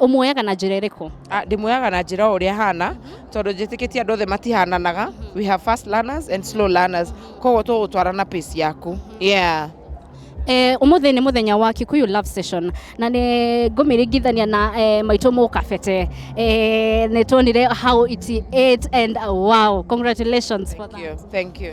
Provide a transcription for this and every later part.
ũmuoyaga na njĩra ĩrĩkũ Ah, ndĩmuoyaga na njĩra o ũrĩa hana tondũ njĩtĩkĩtie andũ othe matihananaga we have fast learners and slow learners koguo tũgũtwara na pace yaku yeah Eh, ũmũthĩ nĩ mũthenya wa Kikuyu Love Session na nĩ ngũmĩringithania na eh, maitũ mũkabete eh, nĩ tuonire how it ate and wow congratulations for thank that. you thank you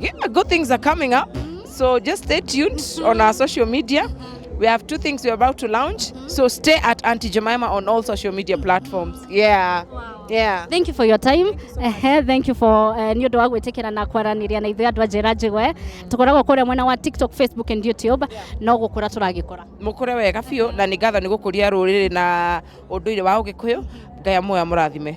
Yeah, good things are coming up. So just stay tuned on our social media. We have two things we're about to launch. So stay at Auntie Jemima on all social media platforms. Yeah. Yeah. thank you for your time Ehe, thank you for eh, nĩ ũndũ wa gwĩtĩkĩra na kwaranĩria na ithuĩ andũ a njĩra njĩgwe tũkoragwo kũrĩa mwena wa tiktok facebook and youtube no gũkũra tũragĩkũra Mũkũre wega biũ na nĩ ngatho nĩ gũkũria rũrĩrĩ na ũndũire wa Ũgĩkũyũ. Ngai amũya mũrathime.